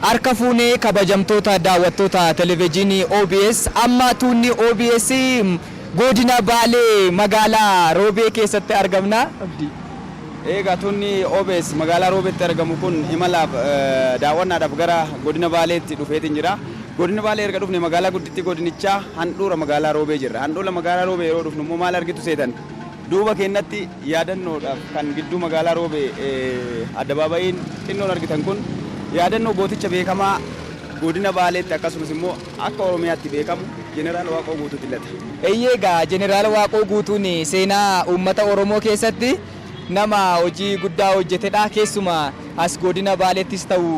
Harka fuunee kabajamtoota daawwattoota televejiinii OBS amma tuunni OBS godina Baalee magaalaa Roobee keessatti argamna. Abdii. Eegaa tuunni OBS magaalaa Roobeetti argamu kun imalaaf daawwannaadhaaf gara godina Baaleetti dhufeetiin jira. Godina Baalee erga dhufne magaalaa guddittii godinichaa handhuura magaalaa Roobee jirra. Handhuula magaalaa Roobee yeroo dhufnu immoo maal argitu seetan? Duuba keennatti yaadannoodhaaf kan gidduu magaalaa Roobee addabaabayiin xinnoon argitan kun yaadannoo gooticha beekamaa godina Baaleetti akkasumas immoo akka Oromiyaatti beekamu Jeneraal Waaqoo Guutuuti lata. Eeyyee egaa Jeneraal Waaqoo Guutuun seenaa uummata Oromoo keessatti. Nama hojii guddaa hojjetedha. Keessumaa as Godina Baaleettis ta'u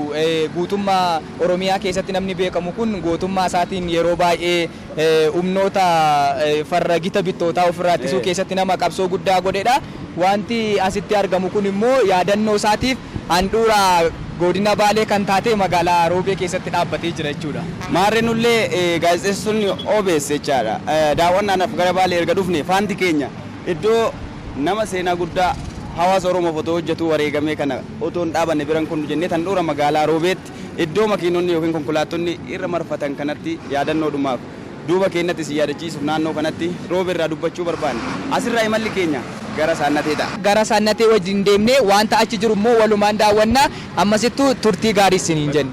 guutummaa Oromiyaa keessatti namni beekamu kun gootummaa isaatiin yeroo baay'ee humnoota farra gita bittootaa ofirraa ittisuu keessatti nama qabsoo guddaa godhedha. Waanti asitti argamu kun immoo yaadannoo isaatiif handhuura Godina Baalee kan taate magaalaa Roobee keessatti dhaabbatee jira jechuudha. Maarree nullee gaazexeessitoonni obs jechaadha daawwannaadhaaf gara Baalee erga dhufnee faanti keenya. Iddoo nama seenaa guddaa hawaasa Oromoof otoo hojjetuu wareegamee kana otoo hin dhaabanne bira hin kunnu jennee handhuura magaalaa Roobeetti iddoo makiinonni ykn konkolaattonni irra marfatan kanatti yaadannoodhumaaf duuba keennatti isin yaadachiisuuf naannoo kanatti Roobee irraa dubbachuu barbaanne. Asirraa imalli keenya gara Saannatee ta'a. Gara Saannatee wajjin deemnee waanta achi jiru immoo walumaan daawwanna. Ammasittuu turtii gaarii isiniin jenna.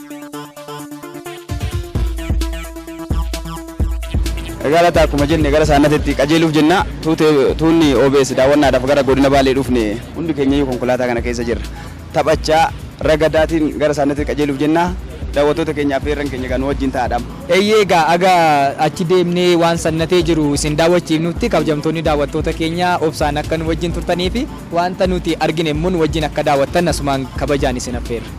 Egaa laata akkuma jenne gara saannatitti qajeeluuf jenna tuunni OBS daawwannaadhaaf gara godina Baalee dhufne hundi keenyayyuu konkolaataa kana keessa jirra. Taphachaa ragadaatiin gara saannatitti qajeeluuf jenna daawwattoota keenyaa fi irran keenya kan wajjin ta'aadhaam. Eeyyee egaa aga achi deemnee waan sannatee jiru isin daawwachiifnutti kabajamtoonni daawwattoota keenya obsaan akka nu wajjin turtanii fi wanta nuti argine immoo nu wajjin akka daawwattan asumaan kabajaan isin affeerra.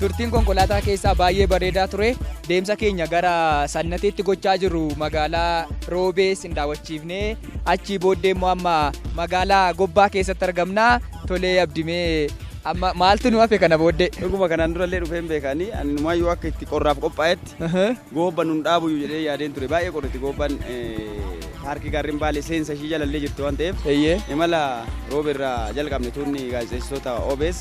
turtiin konkolaataa keessaa baay'ee bareedaa ture deemsa keenya gara sannateetti gochaa jiru magaalaa roobee sin daawwachiifnee achii booddee immoo amma magaalaa gobbaa keessatti argamna tolee abdimee amma maaltu nu hafe kana booddee. Dhuguma kanaan durallee dhufeen beekanii ani numaayyuu akka itti qorraaf qophaa'etti Goobba nun dhaabuyu jedhee yaadeen ture. Baay'ee qorriti goobbaan paarkii gaarreen Baalee seensa ishii jalallee jirti waan ta'eef Eeyyee. imala roobe irraa jalqabne tuunni gaazexeessitoota OBS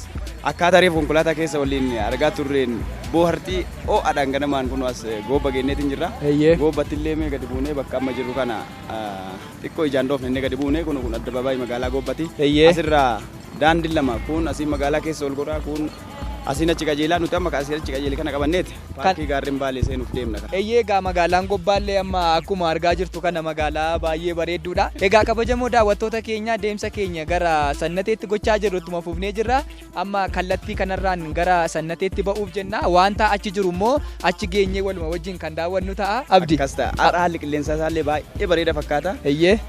akkaataa reef konkolaataa keessa waliin argaa turreen boohartii ho'adhaan ganamaan kun as goobba geenneetiin jirra. Eeyyee. Goobbatti illee mee gadi buunee bakka amma jirru kana ah, xiqqoo ijaan dhoofne inni gadi buunee kun kun addabaabaayii magaalaa goobbati. Eeyyee. Asirraa daandiin lama kun asiin magaalaa keessa ol godhaa kun Asiin achi qajeelaa nuti amma asiin achi qajeele kana qabanneeti paarkii gaarreen baalee seenuuf deemna. Eeyyee egaa magaalaan Gobbaallee amma akkuma argaa jirtu kana magaalaa baay'ee bareedduudha. Egaa kabajamoo daawwattoota keenya deemsa keenya gara Sannateetti gochaa jirru ittuma fufnee jirra. Amma kallattii kanarraan gara Sannateetti ba'uuf jenna. Wanta achi jiru immoo achi geenyee waluma wajjin kan daawwannu ta'a. Abdi. Akkas ta'a. Har'a haalli qilleensaa isaallee baay'ee bareeda fakkaata. Eeyyee.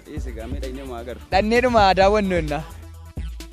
Dhiisi egaa miidhagni homaa agarru. Dhanneedhuma daawwannu jenna.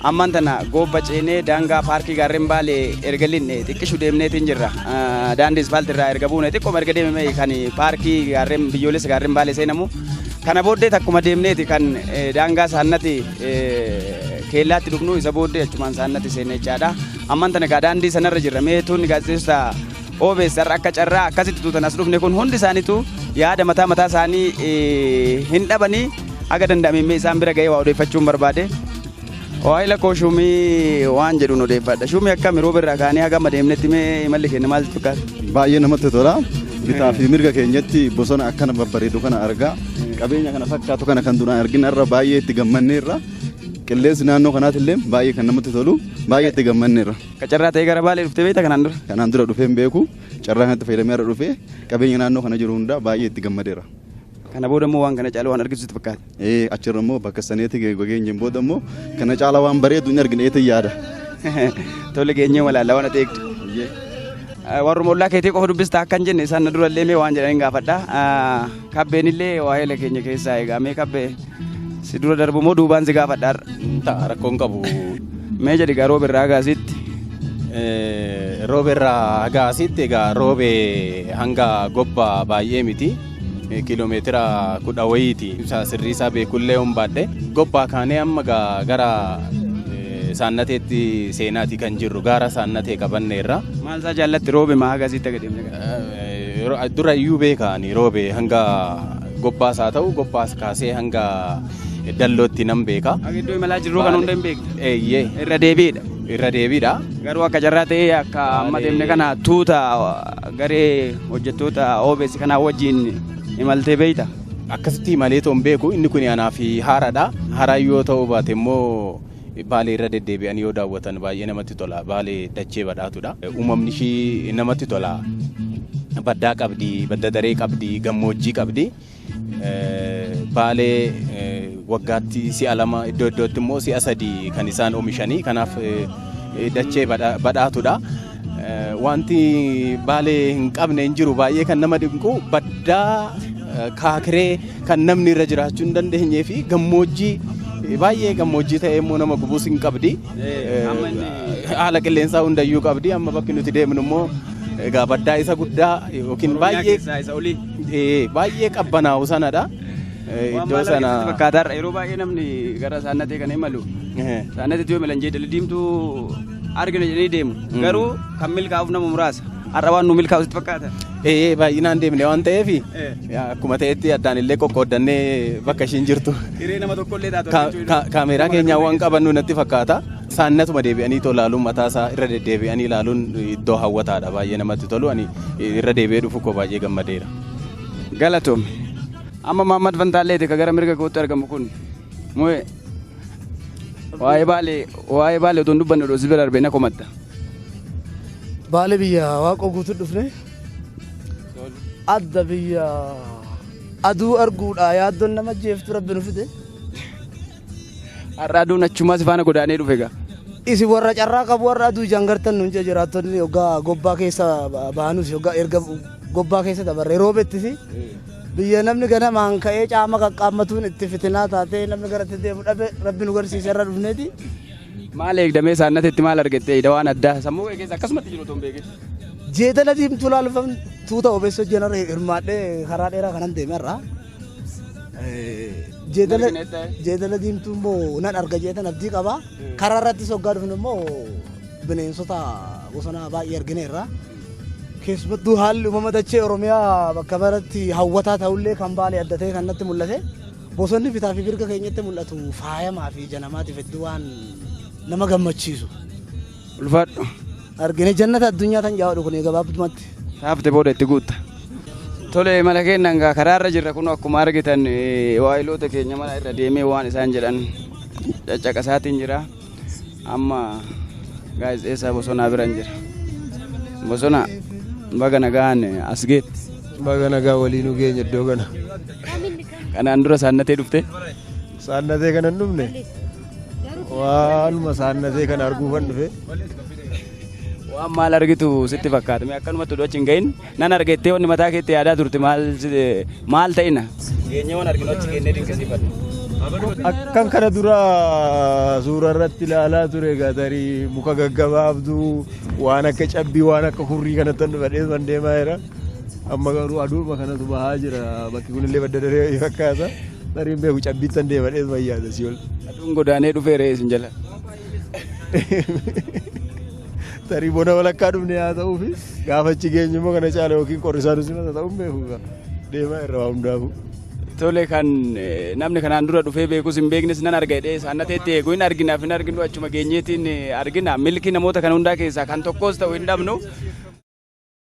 Ammaan tana Goobba ceenee daangaa Paarkii Gaarren Baalee erga lin'e xiqqishu deemneetiin jirra. Daandii ispaaltii irraa erga buune xiqqoma erga deemame kan Paarkii Gaarren Biyyoolessa Gaarren Baalee seenamu. Kana booddee takkuma deemneeti kan daangaa saannati keellaatti dhufnu isa booddee achumaan saannati seenne jechaadha. Ammaan tana egaa daandii sanarra jirra. Mee tuunni gaazexeessota OBS har'a akka carraa akkasitti tuutan as dhufne kun hundi isaaniitu yaada mataa mataa isaanii hin dhabanii. Haga danda'ame mee isaan bira ga'ee waa odeeffachuun barbaade. Waa'ila koo shuumii waan jedhuun odeeffadha. Shuumii akkami rooba irraa kaanee haga amma deemnetti mee imalli keenya maal fakkaata? Baay'ee namatti tola. Bitaa fi mirga keenyatti bosona akkana babbareedu kana argaa qabeenya kana fakkaatu kana kan duraan argina irra baay'ee itti gammanneerra. Qilleensi naannoo kanaati illee baay'ee kan namatti tolu baay'ee itti gammanneerra. Ka carraa ta'ee gara baalee dhuftee beekta kanaan dura? Kanaan dura dhufeen beeku carraa kanatti fayyadamee irra dhufee qabeenya naannoo kana jiru hundaa baay'ee itti gammadeera. Kana booda immoo waan kana caalu waan argitu sitti fakkaata. Ee achirra immoo bakka saneetti geenyeen booda immoo kana caala waan bareedu hin argine eetan yaada. Tole geenyee walaalla waan ati eegdu. Warruma ollaa keetii qofa dubbista akkan jenne isaan na durallee mee waan jedhan hin gaafadha. Kabbeen illee waa'eela keenya keessaa egaa mee kabbee si dura darbu moo duubaan si gaafadha har'a. Ta'a rakkoon qabu. Mee jedhi gaa roobe irraa gaasiitti. Roobe irraa gaasiitti egaa roobe hanga gobba baay'ee miti. Kiiloomeetira kudha wayiiti ibsaa sirrii isaa beekullee yoon baadhe gobbaa kaanee amma gara saannateetti seenaati kan jirru gaara saannatee qabanneerra. Maal isaa jaallatti roobe maa haga asitti agadhimne kana? Dura iyyuu beekaani roobe hanga gobbaas haa ta'u gobbaas kaasee hanga dallootti nan beeka. Akka iddoo imalaa jirruu kan hunda hin beektu. Eeyyee. Irra deebiidha. Irra deebiidha. Garuu akka carraa ta'ee akka amma deemne kana tuuta Garee hojjettoota OBS kanaa wajjin imaltee beekta? Akkasitti imalee toon beeku inni kun anaaf haaraadha. Haaraa yoo ta'uu baate immoo Baalee irra deddeebi'anii yoo daawwatan baay'ee namatti tola. Baalee dachee badhaatuudha. Uumamni ishii namatti tola. Baddaa qabdi, badda daree qabdi, gammoojjii qabdi. Baalee waggaatti si'a lama iddoo iddootti immoo si'a sadii kan isaan oomishanii kanaaf dachee badhaatudha. Wanti baalee hin qabne hin jiru baay'ee kan nama dinqu baddaa kaakiree kan namni irra jiraachuu hin dandeenyee fi gammoojjii baay'ee gammoojjii ta'ee immoo nama gubuus hin qabdi. Haala qilleensaa hundayyuu qabdi amma bakki nuti deemnu immoo egaa baddaa isa guddaa yookiin baay'ee Baay'ee qabbanaa'u sanadha. Iddoo sana. Fakkaataarra yeroo baay'ee namni gara saannatee kan imalu saannatatti yoo imalan jeedalli diimtuu argina jedhanii deemu. Garuu kan milkaa'uuf nama muraasa. Har'a waan nu milkaa'u sitti fakkaata. Ee baay'inaan deemne waan ta'eef akkuma ta'etti addaan illee qoqqooddannee bakka ishiin jirtu. Hiree nama tokkollee taatu. Kaameeraa keenyaa waan qabannu natti fakkaata. Isaan natuma deebi'anii too laaluun mataa isaa irra deddeebi'anii laaluun iddoo hawwataadha baay'ee namatti tolu ani irra deebi'ee dhufu koo baay'ee gammadeera. Galatoomi. Amma Maammad Fantaalleeti ka gara mirga kootti argamu kun. Mu'ee. Waa'ee baalee waa'ee baalee otoo hin dubbanne odoo si bira darbee na komatta. Baale biyya waaqoo guutuu dhufne adda biyya aduu arguudha yaaddoon nama jeeftu rabbi nu fide Har'a aduun achumaa si faana godaanee dhufe egaa. Isin warra carraa qabu warra aduu ijaan gartan nuun jee jiraattonni hoggaa gobbaa keessa ba- baanus hoggaa erga gobbaa keessa dabarre roobettis biyya namni ganamaan ka'ee caama qaqqaammatuun itti fitinaa taatee namni gara itti deemu dhabe rabbi nu garsiise irra dhufneeti. Maal eegdamee saannatetti maal argattee ida waan addaa sammuu kee keessa akkasumatti jiru otoo hin beekin. Jeedala diimtuu laalfam tuuta obeessa hojjetan irra hirmaadhee karaa dheeraa kanan deeme irraa. jeedala jeedala diimtuu immoo nan arga jeetan abdii qaba. Karaa irratti soggaa dhufnu immoo bineensota bosonaa baay'ee argineerra. Keessumattuu haalli uumama dachee Oromiyaa bakka maratti hawwataa ta'ullee kan baalee adda ta'e kan natti mul'ate. Bosonni bitaa fi mirga keenyatti mul'atu faayamaa fi ija namaatiif hedduu waan nama gammachiisu. Ulfaadhu. Argine jannata addunyaa tan jaawadu kun gabaabumatti. Taafte booda itti guutta. Tole mala keennan gaa karaarra jirra kun akkuma argitan eh, waayiloota keenya mana irra deemee waan isaan jedhan caccaqasaatiin jira. Amma gaazexeessaa bosonaa biran jira. Bosona baga nagaan as geette. Baga nagaa waliinuu geenya iddoo kana. Kanaan dura saannatee dhufte. Saannatee kana hin dhufne waanuma saannatee kana arguufan dhufe. Waan maal argitu sitti fakkaata mee akkanumatti utuu achi hin gahin nan argettee wanni mataa keetti yaadaa turte maal si- maal ta'ina. Dhiyeenyee waan arginu achi kennee dinqisiifadhu. Akkan kana dura suuraa irratti ilaalaa ture gatarii muka gaggabaabduu waan akka cabbii waan akka hurrii kanatti dhufadhee man deemaa jira. Amma garuu aduuma kanatu bahaa jira. Bakki kunillee badda daree wayii fakkaata. Tarii hin beeku cabbiittan deema dhees wayyaadha si'ol. Aduun godaanee dhufee re'ee isin jala. Tarii bona walakkaa dhufne haa ta'uu fi gaafa achi geenyu immoo kana caala yookiin qorrisaa nu simata ta'uu hin beeku gaa. Deemaa irra waa hundaafuu. Tole kan eh, namni kanaan dura dhufee beekus hin beeknes nan arga jedhee isaan nateetti eegu hin arginaaf hin arginu achuma geenyeetiin eh, argina milki namoota kana hundaa keessaa kan tokkos ta'u hin dhabnu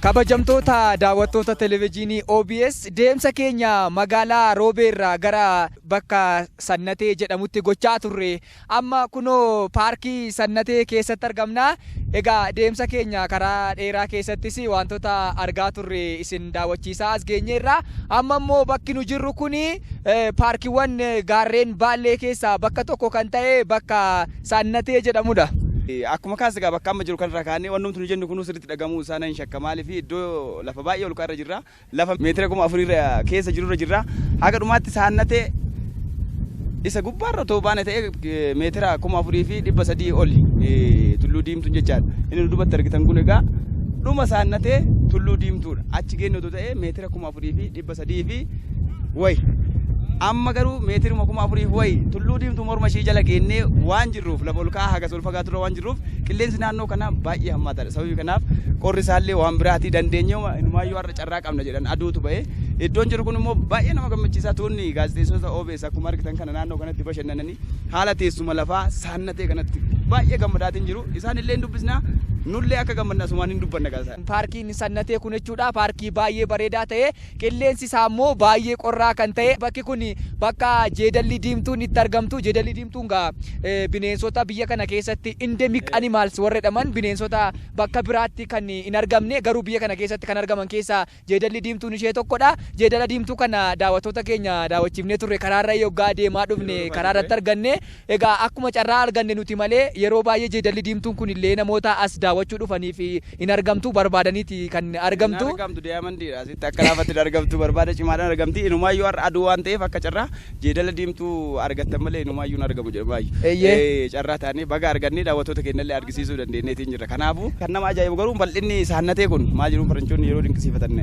Kabajamtoota daawwattoota televezyiinii OBS deemsa keenya magaalaa Roobeerraa gara bakka Sannatee jedhamutti gochaa turre Amma kunoo paarkii Sannatee keessatti argamna. Egaa deemsa keenya karaa dheeraa keessattis waantota argaa turre isin daawwachiisaa as geenyeerra. Amma immoo bakki nu jirru kun paarkiiwwan gaarreen Baallee keessaa bakka tokko kan ta'e bakka Sannatee jedhamudha. Akkuma kaas egaa bakka amma jiru kanarraa kaanee wannumti nu jennu kunuu sirriitti dhagahamuu isaa nan shakka. Maaliif iddoo lafa baay'ee olka'aa irra jirra. Lafa meetira kuma afur irra keessa jiru irra jirra. Haga dhumaatti saannatee isa gubbaarra otoo baane ta'ee meetira kuma afurii fi dhibba sadii oli tulluu diimtuun jechaadha. Inni nu duubatti argitan kun egaa dhuma saannatee tulluu diimtuudha. Achi geenne otoo ta'ee meetira kuma afurii fi dhibba sadii fi wayi. Amma garuu meetiruma kuma afurii fi wayi tulluu diimtuu morma ishii jala geennee waan jirruuf lafa ol ka'aa hagas ol fagaaturra waan jirruuf qilleensi naannoo kana baay'ee hammaataadha. Sababii kanaaf qorri isaallee waan biraatii dandeenye inumaayyuu har'a carraa qabna jedhan aduutu ba'e. Iddoon jiru kun immoo baay'ee nama gammachiisaa tuunni gaazexeessota OBS akkuma argitan kana naannoo kanatti bashannananii haala teessuma lafaa saannatee kanatti baay'ee gammadaatiin jiru. Isaan illee hin dubbisna nullee akka gammadna asumaan hin dubbanna gaazexaa. Paarkiin sannatee kun jechuudha paarkii baay'ee bareedaa ta'e Qilleensi isaa immoo baay'ee qorraa kan ta'e bakki kun bakka jeedalli diimtuun itti argamtu. Jeedalli diimtuun gaa bineensota biyya kana keessatti endemic animals warra jedhaman bineensota bakka biraatti kan hin argamne garuu biyya kana keessatti kan argaman keessaa jeedalli diimtuun ishee tokkodha. Jeedala diimtuu kana daawwattoota keenya daawwachiifnee turre karaarra yoggaa deemaa dhufne karaa irratti arganne. Egaa akkuma carraa arganne nuti malee yeroo baay'ee jeedalli diimtuun kun illee namoota as daawwachuu dhufaniif hin argamtu barbaadaniiti kan Hin argamtu. argamtu daayamandiidha asitti akka laafatti hin argamtu barbaada cimaadhaan argamti inumaayyuu har'a aduu waan ta'eef akka carraa jeedala diimtuu argattan malee inumaayyuu hin argamu jedhamaayyu Eeyyee. Ee, carraa taanee baga argannee daawwattoota keenya illee argisiisuu dandeenyeetiin jirra kanaafuu kan nama ajaa'ibu garuu bal'inni saannatee kun maal jedhuun faranjoonni yeroo dinqisiifatan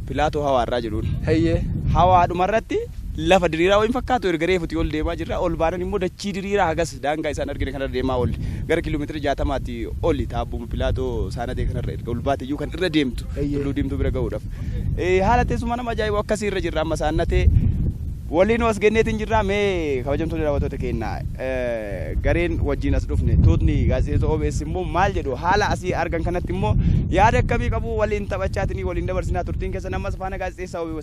pilaatoo hawaarraa jedhuun Eeyyee. hawaadhuma irratti Lafa diriiraa wayii hin fakkaatu, erga reefutii ol deemaa jirra. Ol baanan immoo dachii diriiraa hagas daangaa isaan argine kanarra deemaa oolle. Gara kiiloomeetira jaatamaati oli taabbuma Pilaatoo Saanadee kanarra erga ol baate iyyuu kan irra deemtu Tulluu Diimtuu bira ga'uudhaaf. Haala teessuma nama ajaa'ibu akkasii irra jirra amma Saannatee waliinuu as genneetiin jirra. Mee kabajamtoonni daawwattoota keenya gareen wajjin as dhufne tuutni gaazexeessitoota OBS immoo maal jedhu haala asii argan kanatti immoo yaada akkamii qabu waliin taphachaatiin waliin dabarsinaa turtiin keessan ammas faana gaazexeessaa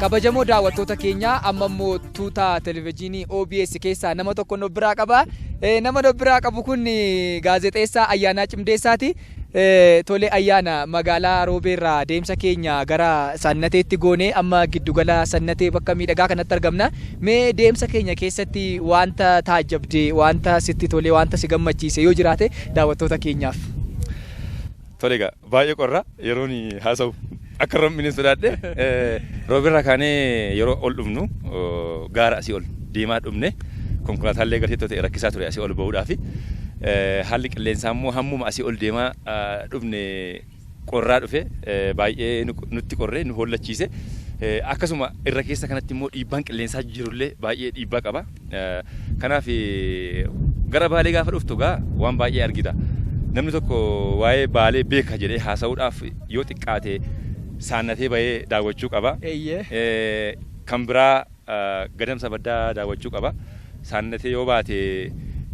kabajamoo daawwattoota keenya amma immoo tuuta televezyiinii OBS keessaa nama tokko nu biraa qaba. Eh, Nama nu biraa qabu kun eh, gaazexeessaa Ayyaanaa Cimdeessaati. Eh, Tole Ayyaana magaalaa Roobeerraa deemsa keenya gara Sannateetti goonee amma giddugala Sannatee bakka miidhagaa kanatti argamna. Mee deemsa keenya keessatti wanta taajjabde, wanta sitti tole, wanta si gammachiise yoo jiraate daawwattoota keenyaaf. Tole egaa Baay'ee qorra yeroon haasa'u akka hin rom'ine sodaadhe. Roobirraa kaanee yeroo ol dhufnu gaara asii ol deemaa dhufne konkolaataan illee gateettoo ta'e rakkisaa ture asii ol ba'uudhaaf. Haalli qilleensaa immoo hammuma asii ol deemaa dhufne qorraa dhufe baay'ee nutti qorree nu hollachiise. Akkasuma irra keessa kanatti immoo dhiibbaan qilleensaa jirullee baay'ee dhiibbaa qaba. Kanaaf gara Baalee gaafa dhuftu gaa waan baay'ee argita. Namni tokko waa'ee Baalee beeka jedhee haasa'uudhaaf yoo xiqqaate saannatee bahee daawwachuu qaba. Eeyyee. Eh, Kan biraa eh, gadamsa baddaa daawwachuu qaba. Saannatee yoo baate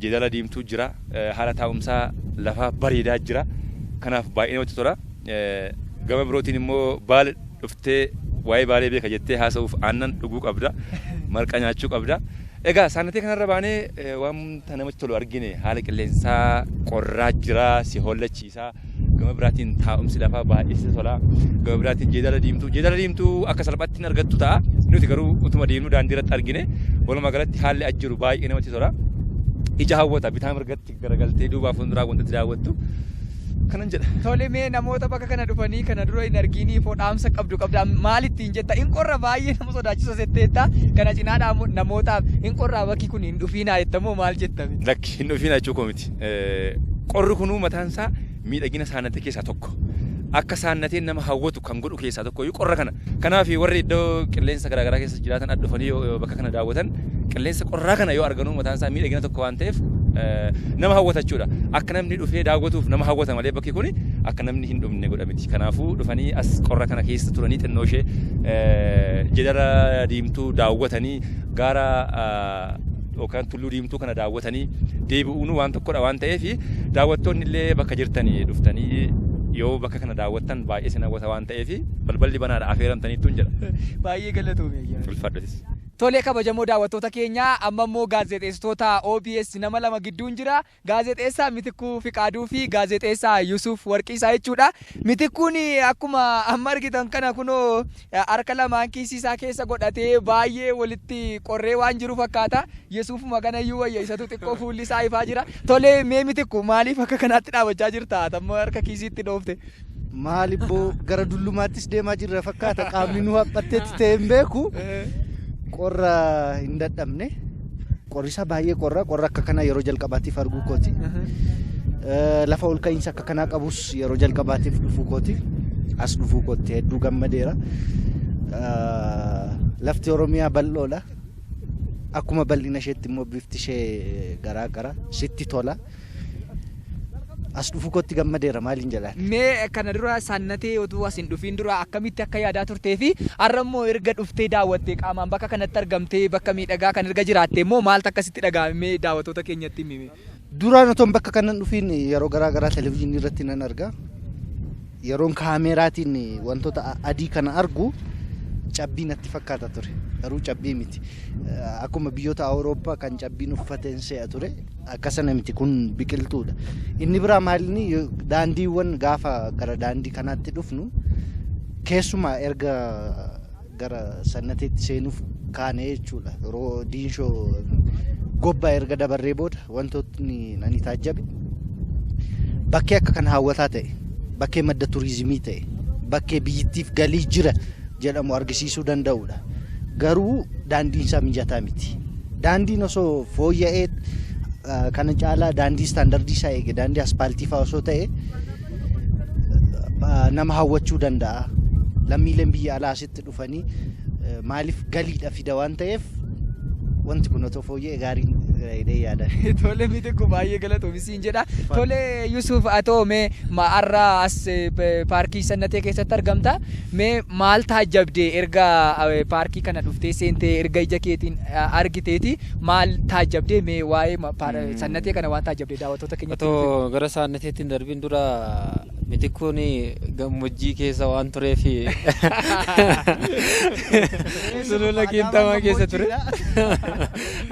jeedala diimtuu jira. Eh, Haala taa'umsaa lafaa bareedaa jira. Kanaaf baay'ee namatti tola. gama birootiin immoo baale dhuftee waa'ee baalee beeka jettee haasa'uuf aannan dhuguu qabda marqa nyaachuu qabda egaa saanatee kanarra baanee eh, wanta namatti tolu argine haala qilleensaa qorraa jira si hollachiisaa gama biraatiin taa'umsi lafaa baay'ee si tola gama biraatiin jeedala diimtuu jeedala diimtuu akka salphaatti hin argattu ta'a nuti garuu utuma deemnu daandii irratti argine walumaa galatti haalli as jiru baay'ee namatti tola ija hawwata bitaa mirgatti Garagaltee duubaa fuulduraa wantatti daawwattu kanan jedha. Tole mee namoota bakka kana dhufanii kana dura hin argiinii foo dhaamsa qabdu qabda maal ittiin jetta hin qorra baay'ee nama sodaachisa setteetta kana cinaadhaa immoo namootaaf hin qorraa bakki kun hin dhufiinaa jetta moo maal jetta? Lakki hin dhufiinaa jechuu koo miti. Qorri kunuu mataan isaa Miidhagina saannatee keessaa tokko. Akka saannateen nama hawwatu kan godhu keessaa tokko iyyuu qorra kana. Kanaaf warri iddoo qilleensa garaagaraa keessa jiraatan as dhufanii yoo bakka kana daawwatan qilleensa qorraa kana yoo arganuu mataan isaa miidhagina tokko waan ta'eef nama hawwata jechuudha. Akka namni dhufee daawwatuuf nama hawwata malee bakki kun akka namni hin dhumne godha miti. Kanaafuu dhufanii as qorra kana keessa turanii xinnoo ishee jedara diimtuu daawwatanii gaara yookaan Tulluu Diimtuu kana daawwatanii deebi'uun waan tokkodha waan ta'eef daawwattoonni illee bakka jirtanii dhuftanii yoo bakka kana daawwattan baay'ee isin hawwata waan ta'eef balballi banaadha afeeramtaniittuun jedha. Baay'ee galatoomi ayyaana. Ulfaadhatis. Tolee kabajamoo daawwattoota keenyaa amma immoo gaazexeessitoota OBS nama lama gidduun jira. Gaazexeessaa Mitikkuu Fiqaaduu fi Gaazexeessaa Yusuuf Warqiisaa jechuudha. Mitikkuun akkuma amma argitan kana kunoo harka lamaan kiisii isaa keessa godhatee baay'ee walitti qorree waan jiru fakkaata. Yesuufuma kana iyyuu wayya isatu xiqqoo fuulli isaa ifaa jira. Tolee mee mitikku maaliif akka kanaatti dhaabachaa jirta? Tamma harka kiisiitti dhoofte. Maal ibboo gara dullumaattis deemaa jirra fakkaata qaamni nu haphatteetti ta'e hin beeku qorra hin dadhabne qorrisaa baay'ee qorra qorra akka kanaa yeroo jalqabaatiif arguu kooti Eh, lafa ol ka'iinsa akka kanaa qabus yeroo jalqabaatiif dhufuu kooti as dhufuu kootti hedduu gammadeera Eh, lafti oromiyaa bal'oodha akkuma bal'ina isheetti immoo bifti ishee garaa gara sitti tola. As dhufu kootti gammadeera maaliin jedhaan. Mee kana dura sannatee utuu as hin dhufiin dura akkamitti akka yaadaa turtee fi har'a immoo erga dhuftee daawwattee qaamaan bakka kanatti argamtee bakka miidhagaa kan erga jiraattee immoo maaltu akkasitti dhaga'ame mee daawwattoota keenyatti himi. Duraan otoo bakka kanan dhufiin yeroo garaa garaa televizyiinii irratti nan arga. Yeroon kaameeraatiin wantoota adii kana argu cabbii natti fakkaata ture. Garuu cabbii miti. Akkuma biyyoota Awurooppaa kan cabbiin uffateen se'a ture akka sana miti kun biqiltuudha. Inni biraa maalinni daandiiwwan gaafa gara daandii kanaatti dhufnu keessumaa erga gara sannateetti seenuuf kaane jechuudha. Yeroo diinshoo gobbaa erga dabarree booda wantootni ani taajjabe bakkee akka kan hawwataa ta'e, bakkee madda turizimii ta'e, bakkee biyyittiif galii jira jedhamu argisiisuu danda'udha. Garuu daandiin isaa mijataa miti. Daandiin osoo fooyya'ee kana caalaa daandii istaandardii isaa eege daandii aspaaltii fa'aa osoo ta'e ah, nama hawwachuu danda'a. Lammiileen biyya alaa asitti dhufanii eh, maaliif galiidha fida waan ta'eef wanti kun otoo fooyya'e gaarii jedhee yaada. Tole miti kun baay'ee galatoomi siin jedha. Tole Yusuuf atoo mee ma- har'a as eh, p- paarkii sannatee keessatti argamta. Mee maal taajjabdee erga eh, paarkii kana dhuftee seentee erga ija keetiin eh, argiteeti maal taajjabdee mee waa'ee ma- paar- sannatee kana waan taajjabdee daawwattoota keenyatti Otoo nuuf himi. gara saanneteetti hin darbin dura mitikkuun gammoojjii keessa waan tureef sulula qiinxamaa keessa ture.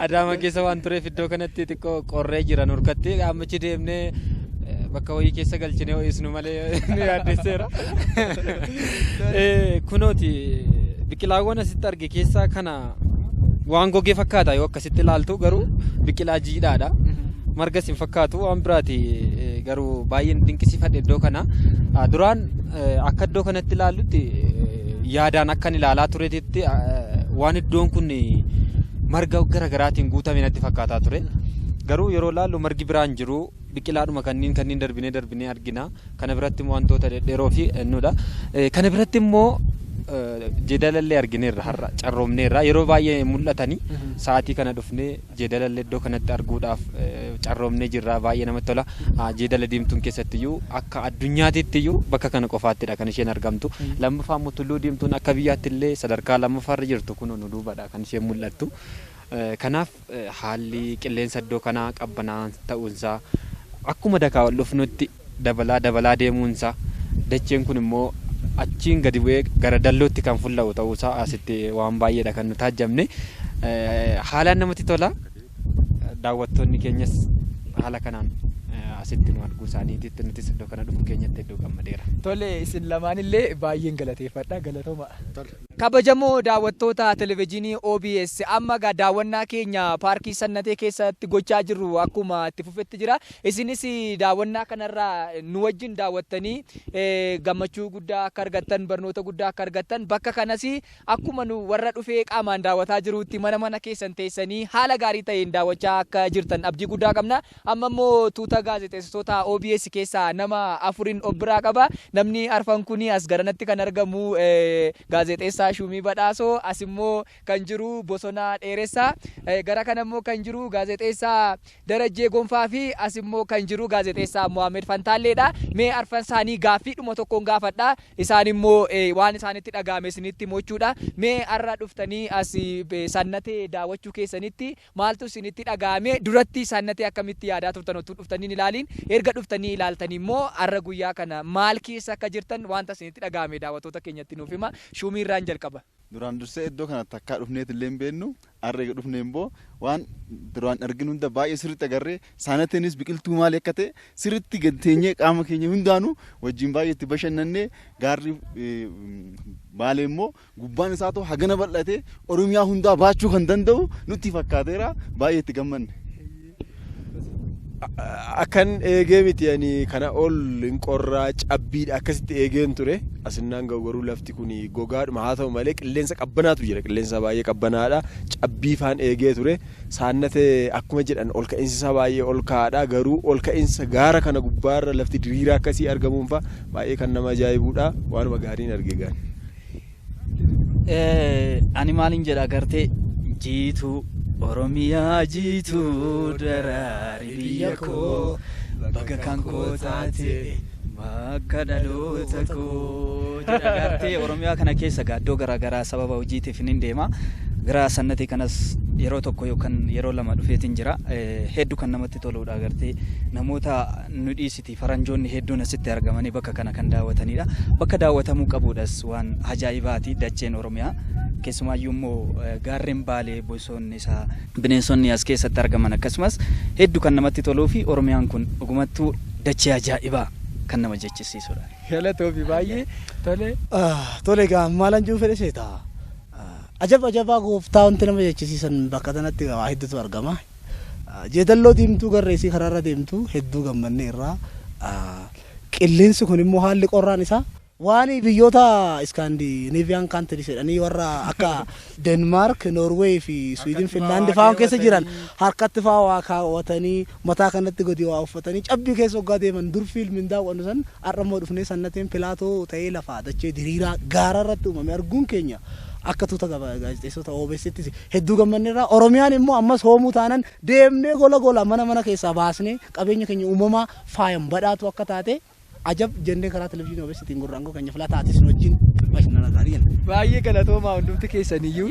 Adaama keessa waan tureef iddoo kanatti xiqqoo qorree jira nurkatti ammachi deemnee eh, bakka wayii keessa galchinee ho'isnu malee nu yaaddesseera. Eh, Kunooti biqilaawwan asitti arge keessaa kana waan gogee fakkaata yoo akkas Sitti ilaaltu garuu biqilaa jiidhaadha. Margas hin fakkaatu waan biraati garuu baay'een dinqisiifadhe iddoo kana. Duraan akka iddoo kanatti ilaallutti yaadaan akkan ilaalaa turetti waan iddoon kun marga garagaraatiin guutame natti fakkaataa ture. Garuu yeroo ilaallu margi biraan jiru Biqilaadhuma kanniin kanniin darbinee darbinee argina. Kana biratti immoo wantoota dhedheeroo fi ennudha. Kana biratti immoo jeedalallee argineerra har'a carroomneerra yeroo baay'ee hin mul'atani sa'aatii kana dhufnee jeedalallee iddoo kanatti arguudhaaf carroomnee jirra baay'ee namatti tola jeedala diimtuun keessatti iyyuu akka addunyaatitti iyyuu bakka kana qofaattidha kan isheen argamtu lammaffaa immoo tulluu diimtuun akka biyyaatti illee sadarkaa lammaffaarra jirtu kun nu duubadha kan isheen mul'attu kanaaf Haalli qilleensa iddoo kanaa qabbanaa'aan ta'uunsaa akkuma dakaa ol dhufnutti dabalaa dabalaa deemuunsaa dacheen kun immoo achiin gadi bu'ee gara dallootti kan fulla'u ta'uusaa asitti waan baay'eedha kan nu taajjabne. Haalaan namatti tola. Daawwattoonni keenyas haala kanaan asitti nu arguu isaaniititti nutis iddoo kana dhufuu keenyatti hedduu gammadeera. Tole isin lamaanillee baay'een galateeffadha galatooma. Kabajamoo daawwattoota Televejiinii OBS amma egaa daawwannaa keenya paarkii Sannatee keessatti gochaa jirru akkuma itti fufetti jira. Isinis daawwannaa kanarra nu wajjin daawwattanii gammachuu guddaa akka argattan barnoota guddaa akka argattan bakka kanas akkuma nu warra dhufee qaamaan daawwataa jiruutti mana mana keessan teessanii haala gaarii ta'een daawwachaa akka jirtan abdii guddaa qabna. Amma immoo tuuta gaazexeessitootaa obs keessaa nama afurin of biraa qaba. Namni arfan kun as garanatti kan argamu gaazexeessaa Shuumii Badhaasoo, as immoo kan jiru Bosonaa Dheeressaa, gara kana immoo kan jiru gaazexeessaa Darajjee Gonfaa fi as immoo kan jiru gaazexeessaa Mohaammed Fantaalleedha. Mee arfan isaanii gaaffiidhuma tokkoon gaafadha. Isaan immoo waan isaanitti dhaga'ame isinitti himuu jechuudha. Mee har'a dhuftanii as Sannatee daawwachuu keessanitti Maaltu isinitti dhaga'ame? Duratti Sannatee akkamitti yaadaa turtan ottuu dhuftanii hin ilaaliin? Erga dhuftanii ilaaltanii immoo har'a guyyaa kana maal keessa akka jirtan waanta isinitti dhaga'ame daawwattoota keenyatti nuuf himaa. Shuumii irraan jalqaba. Duraan dursee iddoo kana takkaa dhufneet illee hin beennu. Har'a eega dhufnee immoo waan duraan arginu hunda baay'ee sirriitti agarree Saanateenis biqiltuu maali akka ta'e sirriitti gad teenyee qaama keenya hundaanuu wajjin baay'ee itti bashannannee gaarri Baalee immoo Gubbaan isaatoo hagana bal'atee Oromiyaa hundaa baachuu kan danda'u nutti fakkaateera. Baay'ee itti gammanne. Akkan eegee miti ani kana ol hin qorraa cabbiidha akkasitti eegeen ture asinnaan ga'u garuu lafti kun gogaadhuma haa ta'u malee qilleensa qabbanaatu jira qilleensa baay'ee qabbanaadha cabbii faan eegee ture saannate akkuma jedhan ol ka'insi isaa baay'ee ol ka'aadha garuu ol ka'insa gaara kana gubbaarra lafti diriiraa akkasii argamuunfa baay'ee kan nama ajaa'ibuudha waanuma gaariin arge gaari. Ani maalin jedha agartee jiituu Oromiyaa jiituu daraari biyya koo baga kan koo taate bakka dhaloota koo jedha agartee Oromiyaa kana keessa gaaddoo garaagaraa sababa hojiitiif nin deema gara sannatii kanas yeroo tokko yookaan yeroo lama dhufeetiin jira hedduu kan namatti toluudha agartee namoota nu dhiisi Faranjoonni hedduun asitti argamanii bakka kana kan daawwatanidha. Bakka daawwatamuu qabuudhas waan ajaa'ibaati dacheen Oromiyaa. Keessumaayyuu immoo gaarreen Baalee bosoonni isaa bineensonni as keessatti argaman akkasumas heddu kan namatti toluu fi Oromiyaan kun dhugumattuu dachee ajaa'ibaa kan nama jechisiisudha. Galatoomi baay'ee tole. Tole egaa maalan juu fedhe seetaa. Ajab ajabaa gooftaa wanti nama jechisiisan bakka tanatti waa hedduutu argama. Jeedalloo diimtuu garra isii karaa irra deemtu hedduu gammannee irraa. Qilleensi kun immoo haalli qorraan isaa. Waan biyyoota Scandinavian countries jedhanii warra akka Denmark, Norway fi Sweden, Finland fa'aan keessa jiran harkatti fa'aa waa kaawwatanii mataa kanatti gadi waa uffatanii cabbii keessa hoggaa deeman dur fiilmiin daawwannu san har'a immoo dhufnee sannateen pilaatoo ta'ee lafaa dachee diriiraa gaara irratti uumame arguun keenya akka tuuta gaazexeessota OBS'ttis Hedduu gammanneerra. Oromiyaan immoo ammas hoomuu taanan deemnee gola gola mana mana keessaa baasnee qabeenya keenya uumamaa faayan badhaatuu akka taate ajab jennee karaa televizyiinii OBStiin gurra aangoo keenya filataa atis nu wajjin bashannanaa taanii jenna. Baay'ee galatoomaa hundumti keessaniyyuu.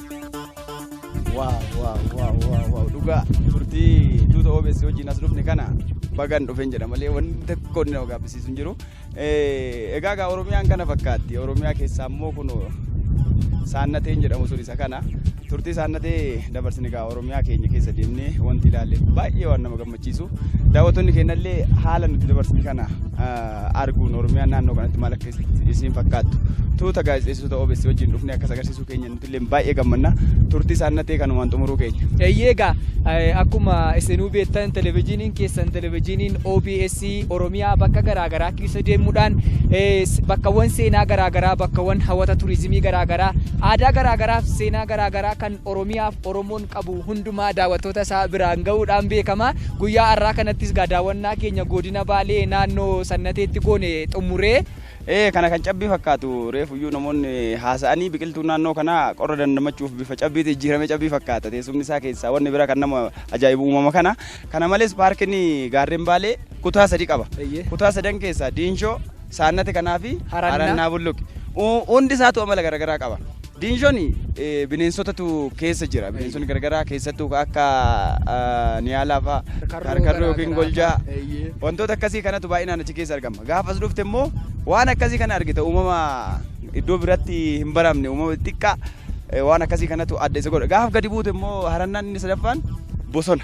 Waaw waaw waaw waaw waaw dhugaa turtii tuuta OBS wajjin as dhufne kana bagaan dhufeen jedha malee wanni tokko inni nama gaabbisiisu hin jiru. Eh, Egaa egaa Oromiyaan kana fakkaatti Oromiyaa keessaa immoo kun saannateen jedhamu sun isa kana turtii saannatee dabarsine egaa Oromiyaa keenya keessa deemnee wanti ilaalle baay'ee waan nama gammachiisu. gammachiisu. Daawwattoonni keenyallee haala nuti dabarsine kana arguun Oromiyaan naannoo kanatti maal akka isiin fakkaattu tuuta gaazexeessitoota OBS wajjin dhufne akkas agarsiisuu keenya nuti illee baay'ee gammanna. Turtii isaan natee kanumaan xumuruu keenya. Eeyyee egaa akkuma isinuu beektan televizyiiniin keessan televizyiiniin OBS Oromiyaa bakka garaagaraa keessa deemuudhaan bakkawwan seenaa garaagaraa bakkawwan hawwata turizimii garaagaraa aadaa garaagaraaf seenaa garaagaraa kan Oromiyaaf Oromoon qabu hundumaa daawwattoota isaa biraan ga'uudhaan beekama. Guyyaa har'aa kanattis egaa daawwannaa keenya godina Baalee naannoo Sannateetti goone xumuree. Ee, kana kan cabbii fakkaatu reefuyyuu namoonni haasa'anii biqiltuun naannoo kanaa qorra dandamachuuf bifa cabbiitti jijjiiramee cabbii fakkaata. Teessumni isaa keessaa wanni bira kan nama ajaa'ibu uumama kana. Kana malees paarkiin gaarreen Baalee kutaa sadi qaba. Eeyyee. Kutaa sadan keessaa Diinshoo, Saannati kanaa fi Harannaa. Harannaa Bulluqi. U- Hundi isaatu amala garaagaraa qaba. Diinshon eh, bineensotatu keessa jira. Bineensonni garaagaraa keessattuu akka ah, niyaalaa fa'a, Karkarroo karkarroo yookiin garaagaraa goljaa fa'a. Eeyyee. wantoota akkasii kanatu baay'inaan achi keessa argama. Gaafas dhufte immoo waan akkasii kana argita uumama iddoo biratti hin baramne uumama xiqqaa eh, waan akkasii kanatu adda isa godha. Gaaf gadi buute immoo harannaan inni sadaffaan bosona.